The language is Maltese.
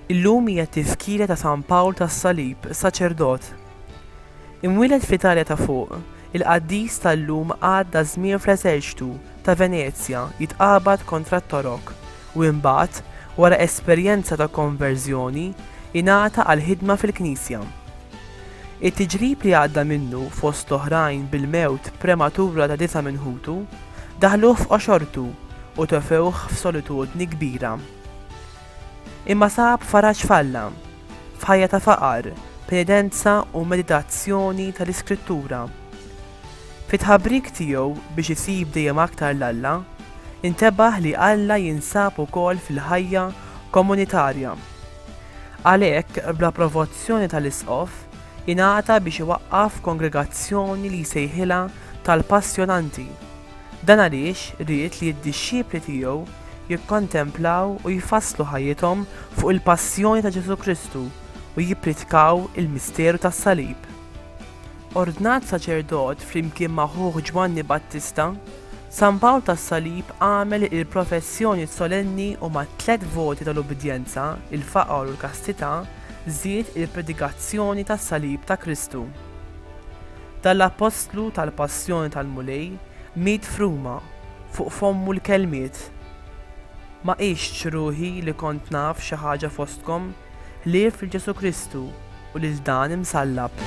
Illum hija t-tifkira ta' San Pawl tas-Salib, saċerdot. Imwieled fl-Italja ta' fuq, Il-qaddis tal-lum għadda żmien fl-eżerċtu ta' Venezja jitqabad kontra t-Torok u imbagħad, wara esperjenza ta' konverżjoni, ingħata għall-ħidma fil-Knisja. It-tiġrib li għadda minnu, fost l-oħrajn bil-mewt prematura ta' disa' minn ħutu, daħluh f'qoxortu u tefewh f'solitudni kbira. Imma sab faraġ f'Alla. F'ħajja ta' faqar, penidenza u meditazzjoni tal-Iskrittura. Fit-tħabbrik tiegħu biex isib dejjem aktar 'l Alla, intebaħ li Alla jinsab ukoll fil-ħajja komunitarja. Għalhekk, bl-approvazzjoni tal-Isqof, ingħata biex iwaqqaf kongregazzjoni li jsejħilha tal-Passjonanti. Dan għaliex ried li d-dixxipli tiegħu jikkontemplaw u jfasslu ħajjithom fuq il-passjoni ta' Ġesù Kristu u jippritkaw il-misteru tas-salib. Ordnat saċerdot flimkien ma' ħuh Ġwanni Battista, San Pawl tas-Salib għamel il-professjoni solenni u mat-tliet voti tal-ubbidjenza, il-faqar u l-kastità, żied il-predikazzjoni tas-salib ta' Kristu. Dan l-appostlu tal-Passjoni tal-Mulej miet f'Ruma, fuq fommu l-kelmiet, Ma qistx ruħi li kont naf xi ħaġa fostkom, ħlief lil Ġesù Kristu u lil dan imsallab.